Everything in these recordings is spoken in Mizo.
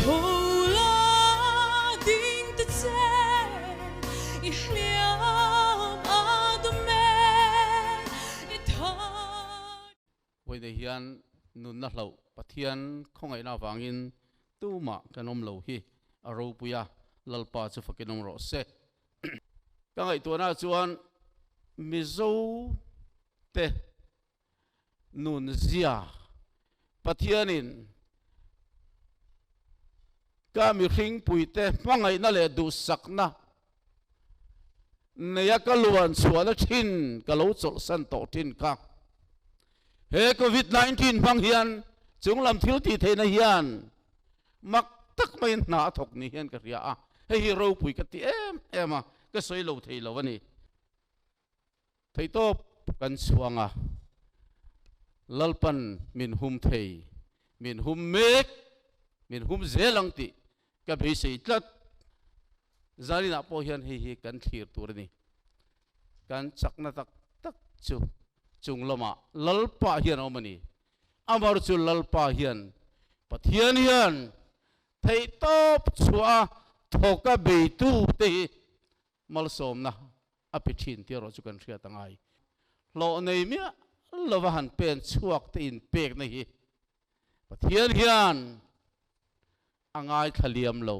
Tho la ding te che i hliam a dum e i thar. Pawi nei hian nunna hlauh Pathian khawngaihna avangin tumah kan awm lo hi a ropui a, Lalpa chu fakin awm rawh se. Ka ngaihtuahna ah chuan Mizo te nun zia Pathianin ka mihring puite hmangaihna leh duhsakna neia ka luan chhuahna thin ka lo chawlhsan tawh thin kha. He Covid nineteen hmang hian chunglam thil tih theihna hian mak tak mai hna a thawk ni hian ka hria a, hei hi ropui ka ti em em a, ka sawi lo thei lo a ni. Theitawp kan chhuang a, Lalpan min hum thei, min hum mek, min hum zel ang tih ka beisei tlat. Zaninah pawh hian hei hi kan thlir tur a ni. Kan chakna tak tak chu chung lama Lalpa hian a awm a ni. Amaherawh chu Lalpa hian Pathian hian theitawp chhuaha thawk a beitute hi Malsawmna a pe thin tih erawh chu kan hriat a ngai. Hlawh nei miah lova han pen chhuak te in pekna hi Pathian hian a ngaithla liam lo,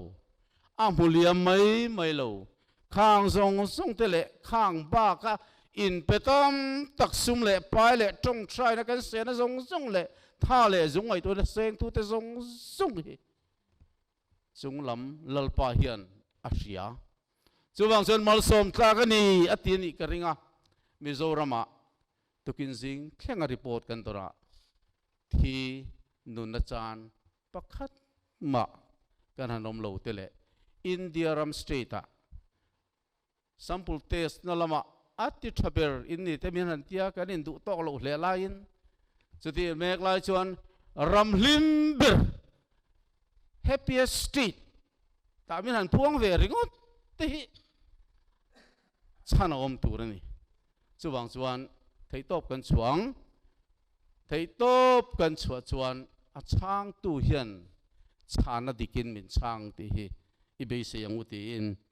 a hmu liam mai mai lo. Khang zawng zawng te leh khang baka in pe tam tak sum leh pai leh tawngthraina kan sehna zawng zawng leh tha leh zung ngaihtuahna sengtute zawng zawng hi Chung lam Lalpa hian a hria. Chuvang chuan malsawm tlak a ni a ti a nih ka ring a. Mizorama tukin zing thlenga report kan dawrah thi nun achan pakhat mah kan han awm lo te leh India ram state ah Sample test na lama a ti tha ber in ni te min han ti a, kan induh tawk loh hle laiin chutih mek lai chuan ram hlim ber happiest street tah min han phuang ve ringawt te hi chhan a awm tur a ni. Chuvang chuan theihtawp kan chhuang, theihtawp kan chhuah chuan a chhangtu hian chhana dikin min chhang tih hi i beisei ang u tiin